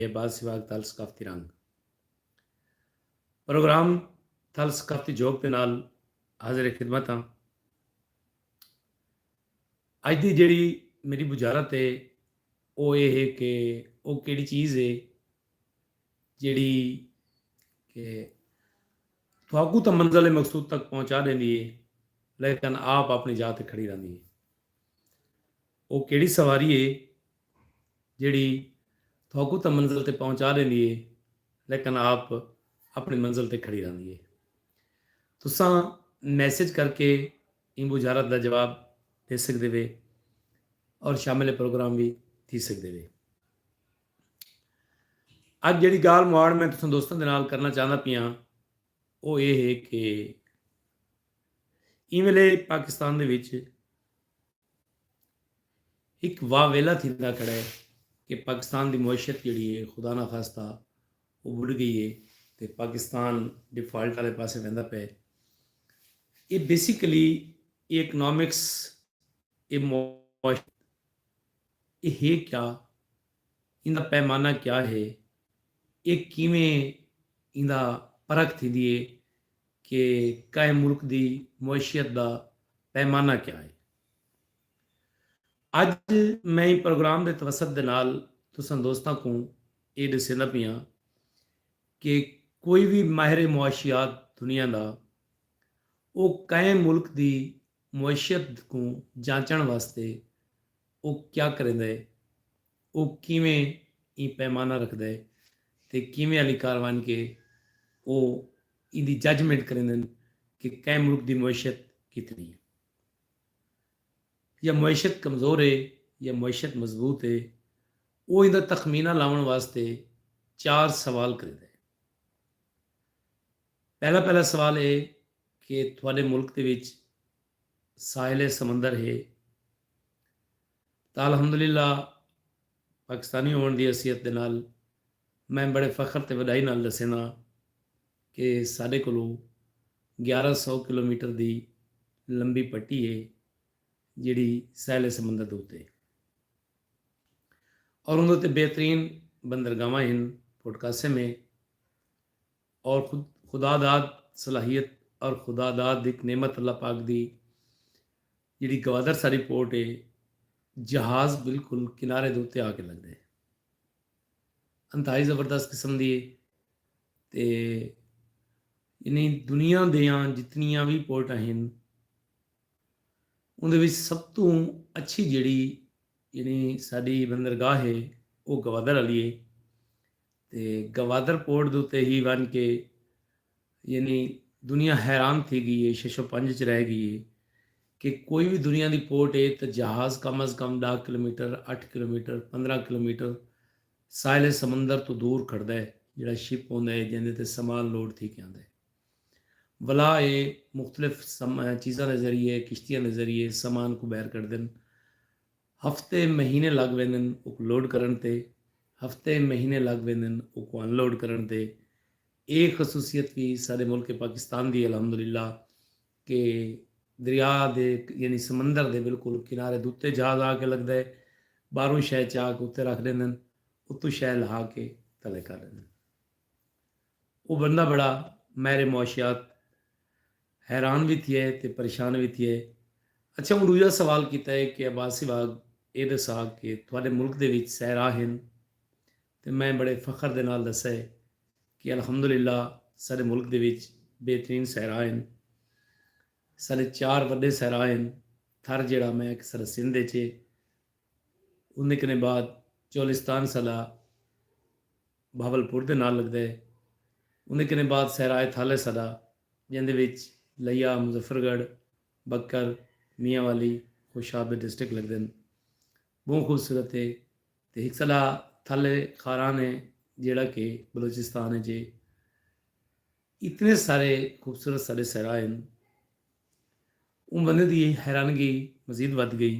اے بعد سیواگ تھل ثقافتی رنگ پروگرام تھل ثقافتی جھوک دے نال حاضر خدمت ہاں۔ اج دی جیڑی میری بجارت ہے او اے ہے کہ او کیڑی چیز ہے جیڑی کہ تھاکو تاں منزل مقصود تک پہنچا دیندی ہے لیکن آپ اپنی جا تے کھڑی رہندی ہے او کیڑی سواری ہے جیڑھی تہاکوں تاں منزل تے پہنچا ݙیندی ہے لیکن آپ اپݨی منزل تے کھڑی رہندی ہے۔ تساں میسج کر کے ایں بجھارت دا جواب ݙے سڳدے وے اور شامل پروگرام وی تھی سڳدے وے۔ اڄ جیڑھی ڳالھ مہاڑ میں تساں دوستاں دے نال کرݨا چاہندا پیاں او اے ہے کہ ایں ویلے پاکستان دے وچ ہک واہ ویلا تھیندا کھڑا ہے کہ پاکستان دی معیشت جیڑھی ہے خدا نہ خواستہ او بڈ گئی ہے تے پاکستان ڈیفالٹ آلے پاسے ویندا پئے اے بیسیکلی اے اکنامکس اے معاشت اے ہے کیا ایندا پیمانہ کیا ہے؟ اے کیویں ایندا پرکھ تھیندی ہے کہ کائے ملک دی معیشیت دا پیمانہ کیا ہے؟ اج میں ایں پروگرام دے توسط دے نال تساں دوستاں کوں اے ڈسیندا پیاں کہ کوئی وی ماہر معاشیات دنیا دا او کائے ملک دی معیشت کوں جانچݨ واسطے او کیا کریندا ہے، او کیویں ایں پیمانہ رکھدا ہے تے کیویں آلی کاروائن کے او ایندی ججمنٹ کریندن کہ کئیں ملک دی معیشت کتنی ہے۔ یا معیشت کمزور ہے یا معیشت مضبوط ہے، او ایندا تخمینہ لاوݨ واسطے چار سوال کریندا ہے۔ پہلا پہلا سوال اے کہ تہاڈے ملک دے وچ ساحل سمندر ہے تاں الحمدللہ پاکستانی ہوون دی حیثیت دے نال میں بڑے فخر تے وڈائی نال ڈسینداں کہ ساڈے کولو گیارہ سو کلومیٹر دی لمبی پٹی ہے جیڑھی ساحل سمندر دے اتے اور اوندے اتے بہترین بندرگاہواں ہن پورٹ قاسم ہے اور خود خدا داد صلاحیت اور خدا داد ہک نعمت اللہ پاک دی جیڑی گوادر ساری پورٹ ہے جہاز بالکل کنارے دے اتے آ کے لگ دے انتہائی زبردست قسم دی تے یعنی دنیا دیاں جتنیاں بھی پورٹاں ہیں ان دے سب تو اچھی جڑی یعنی ساری بندرگاہ ہے وہ گوادر والی ہے تے گوادر پورٹ دے اتے ہی ونج کے یعنی دنیا حیران تھی گئی ہے چھے سو پنج اچ رہ گئی ہے کہ کوئی وی دنیا دی پورٹ ہے تاں جہاز کم از کم ڈاہ کلومیٹر اٹھ کلومیٹر پندرہ کلومیٹر ساحل سمندر توں دور کھڑدا ہے جیڑا شپ ہوندا ہے جیندے تے سامان لوڈ تھی کے آندا ہے ولا اے مختلف چیزاں دے ذریعے کشتیاں دے ذریعے سامان کو بہر کڈدن۔ ہفتے مہینے لگ ویندن اوک لوڈ کرݨ تے ہفتے مہینے لگ ویندن اوکوں ان لوڈ کرݨ تے اے خصوصیت وی ساݙے ملک پاکستان دی ہے الحمدللہ کہ دریا دے یعنی سمندر دے بالکل کنارے دے اتے جہاز آ کے لڳدا ہے ٻاہروں شے چا کے اتے رکھ ݙیندن اتوں شے لہا کے تلے کر ݙیندن۔ او بندہ بڑا ماہر معاشیات حیران وی تھیے تے پریشان وی تھیے۔ اچھا اوں ڈوجھا سوال کیتا ہے کہ عباس سیواگ اے ڈسا کہ تہاڈے ملک دے وچ صحرا ہن تے میں بڑے فخر دے نال دسا ہے کہ الحمدللہ ساڈے ملک دے وچ بہترین صحرا ہن۔ ساڈے چار وڈے صحرا ہن تھر جیڑھا میں اکثر سندھ اچ ہے اوندے کنیں بعد چولستان سلہ بھاولپور دے نال لگدا ہے۔ اوندے کنیں بعد صحرائے تھالہ سلہ جیندے وچ لیا، مظفر گڑھ، بکر، میاں والی، خوشاب ڈسٹرکٹ لگدن۔ بہوں خوبصورت ہے تے ہک سلہ تھالہ خاران ہے جیڑھا کہ بلوچستان اچ ہے۔ اتنے سارے خوبصورت ساڈے صحرا ہن اوں بندے دی حیرانگی مزید ودھ گئی۔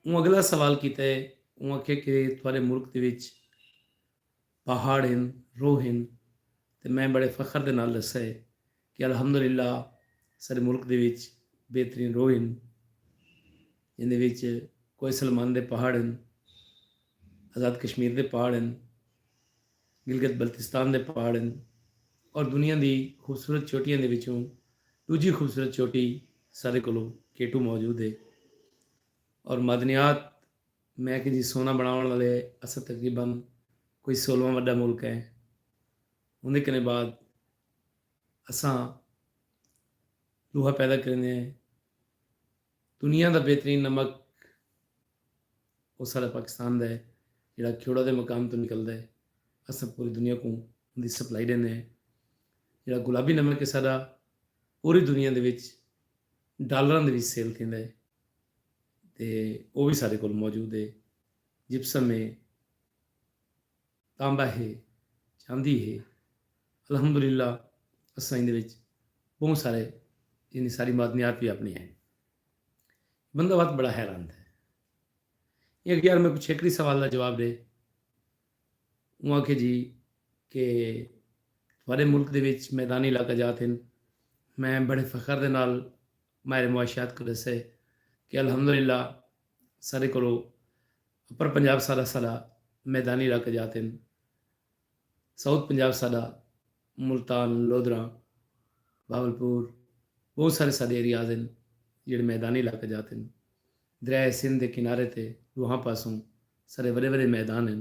اوں اگلا سوال کیتا ہے۔ اوں آکھیا کہ تہاڈے ملک دے وچ پہاڑ ہن، روح ہن تے میں بڑے فخر دے نال ڈسا ہے کہ الحمدللہ ساڈے ملک دے وچ بہترین روح ہن جیندے وچ کوہ سلمان دے پہاڑ ہن، آزاد کشمیر دے پہاڑ ہن۔ گلگت بلتستان دے پہاڑ ہن اور دنیا دی خوبصورت چوٹیاں دے وچوں ڈوجھی خوبصورت چوٹی ساڈے کولو کیٹو موجود ہے اور معدنیات میں کہ جی سونا بناون والے اسد تقریبا کوئی سولہواں وڈا ملک ہے اندے کنے بعد اساں لوہا پیدا کریندے ہیں دنیا دا بہترین نمک او ساݙا پاکستان دا ہے جیڑھا کھیوڑا دے مقام توں نکلدا ہے اساں پوری دنیا کوں اوندی سپلائی ݙیندے ہیں جیڑھا گلابی نمک ہے ساݙا پوری دنیا دے وچ ڈالراں دے وچ سیل تھیندا ہے تے او وی ساݙے کول موجود ہے جپسم ہے۔ تاندا ہے چاہندی ہے الحمدللہ اساں ایندے وچ بہت سارے یعنی ساری معدنیات بھی اپنی ہیں بندہ وقت بڑا حیران ہے یہ یار میں کچھ ایکڑی سوال کا جواب دے وہ آ جی کہ تھوڑے ملک دے وچ میدانی علاقہ جاتے ہیں میں بڑے فخر دے نال ماہر معاشیات کوں ݙسے کہ الحمدللہ ساݙے کولو اپر پنجاب سارا ساݙا میدانی علاقہ جات ہن، ساؤتھ پنجاب ساݙا ملتان، لودھراں، بہاولپور ٻہوں سارے ساݙے ایریاز ہن جیڑھے میدانی علاقہ جات ہن، دریائے سندھ دے کنارے تے ݙوہاں پاسوں ساݙے وݙے وݙے میدان ہن،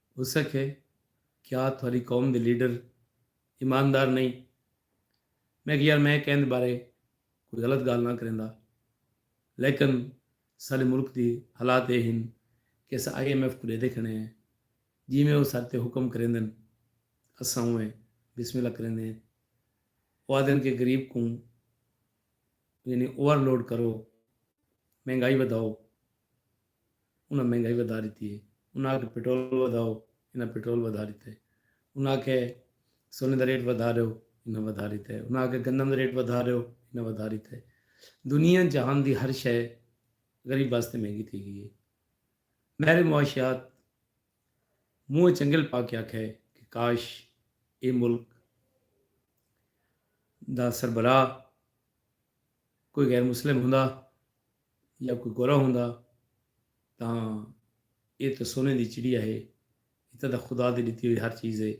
اسکھے کیا تھوڑی قوم دے لیڈر ایماندار نئیں؟ میں اکھیا یار میں کیندے بارے کوئی غلط گالھ نہ کریندا لیکن ساڈے ملک دی حالات اے ہن کہ اساں آئی ایم ایف کوں ڈیدے کھڑے ہیں جیویں او ساڈے تے حکم کریندن اساں اونویں بسم اللہ کریندے ہیں او آدھن کہ غریب کوں یعنی اوور لوڈ کرو مہنگائی ودھاؤ انہاں مہنگائی ودھا ݙتی اے، انہاں آکھیا پٹرول ودھاؤ، انہاں پٹرول ودھا ݙتا اے، انہاں آکھیا سونے دا ریٹ ودھا ݙیو، انہاں ودھا ݙتا اے، انہاں آکھیا گندم دا ریٹ ودھا ݙیو، انہاں ودھا ݙتا اے، دنیا جہان دی ہر شئے غریب واسطے مہنگی تھی ڳئی اے، ماہر معاشیات منہ اچ انگل پا کے آکھیا اے کہ کاش اے ملک دا سربراہ کوئی غیر مسلم ہوندا یا کوئی گورا ہوندا تاں ایہ تاں سونے دی چڑیا ہے ایہ تاں خدا دی ݙتی ہوئی ہر چیز ہے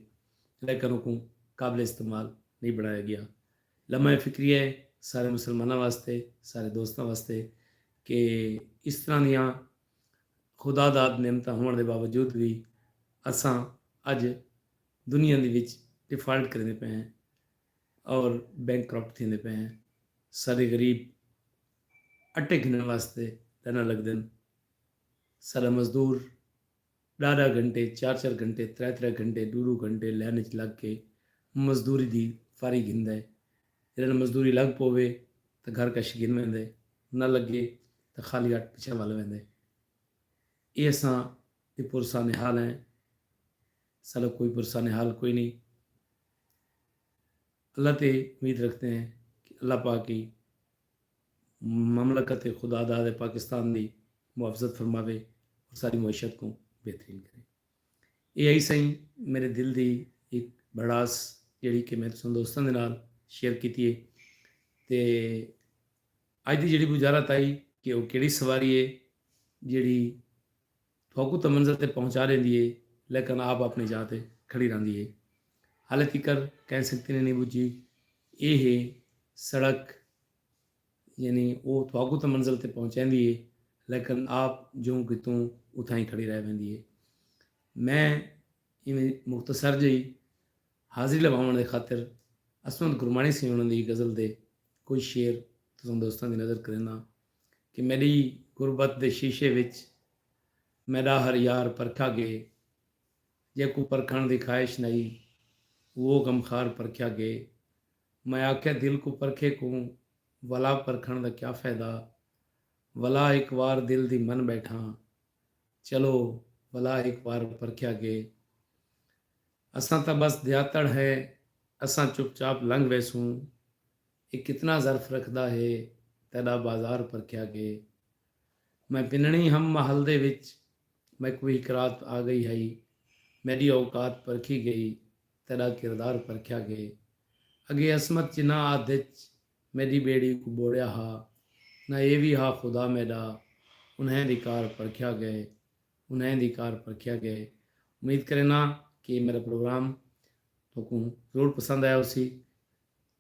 لیکن اوکوں قابل استعمال نئیں بݨایا ڳیا۔ لمحہ فکریہ ہے سارے مسلماناں واسطے سارے دوستاں واسطے کہ اس طرح دیاں خدا داد نعمتاں ہووݨ دے باوجود وی اساں اڄ دنیا دے وچ ڈیفالٹ کریندے پئے ہیں اور بینک کرپٹ تھیندے پئے ہیں ساڈے غریب اٹے گھنن واسطے لائناں لگدن ساڈا مزدور ڈاہ ڈاہ گھنٹے چار چار گھنٹے ترے ترے گھنٹے ڈو ڈو گھنٹے لائن وچ لگ کے مزدوری دی فاری گھندا ہے جڈن مزدوری لگ پوے تاں گھر کش گھن ویندے نہ لگے تاں خالی ہٹ پچھے ول ویندے اے اساں دی پرسان حال ہیں ساڈا کوئی بھروسہ نہال کوئی نئیں اللہ تے امید رکھدے ہیں کہ اللہ پاک ای مملکت خدا داد پاکستان دی محافظت فرماوے اور ساری معیشت کو بہترین کرے یہ آئی سائیں میرے دل دی ایک بڑاس جڑی کہ میں تسان دوستان دے نال شیئر کیتی ہے تے آج دی جڑی بجارت آئی کہ وہ کیڑی سواری ہے جڑی تہاکوں تاں منزل تے پہنچا ݙیندی ہے لیکن آپ اپݨی جاہ تے کھڑی رہندی ہے۔ ہالے تیکر کہیں سنگتی نے نئیں ٻجھی اے ہے سڑک یعنی او تہاکوں تاں منزل تے پہنچیندی ہے لیکن آپ جوں کتوں اتھاں ہی کھڑی رہ ویندی ہے۔ میں ایویں مختصر جئی حاضری لواوݨ دے خاطر عصمت گرماݨی سیوݨ دی غزل دے کوئی شعر تساں دوستاں دی نظر کرینداں۔ کہ میݙی غربت دے شیشے وچ میݙا ہر یار پرکھا ڳئے جیکوں پرکھݨ دی خواہش نہی اوہو غمخوار پرکھیا ڳئے میں آکھیا دل کوں پرکھے کوں ولا پرکھݨ دا کیا فائدہ ولا ہک وار دل دی من ٻیٹھاں چلو ولا ہک وار پرکھیا ڳئے اساں تاں بس دیاتڑ ہیں اساں چپ چاپ لنگھ ویسوں اے کتنا ظرف رکھدا ہے تیڈا بازار پرکھیا گے میں پننڑی ہم محل دے وچ میک وی ہکرات آ گئی ہئی میڈی اوقات پرکھی گئی تیڈا کردار پرکھیا گے اگے عصمت جنہاں آدھ اچ میڈی بیڑی کوں بوڑیا ہا نہ اے وی ہا خدا میڈا انہائیں دی کار پرکھیا گے انہائیں دی کار پرکھیا گے امید کرینا کہ اے میڈا پروگرام تہاکوں ضرور پسند آیا ہوسی۔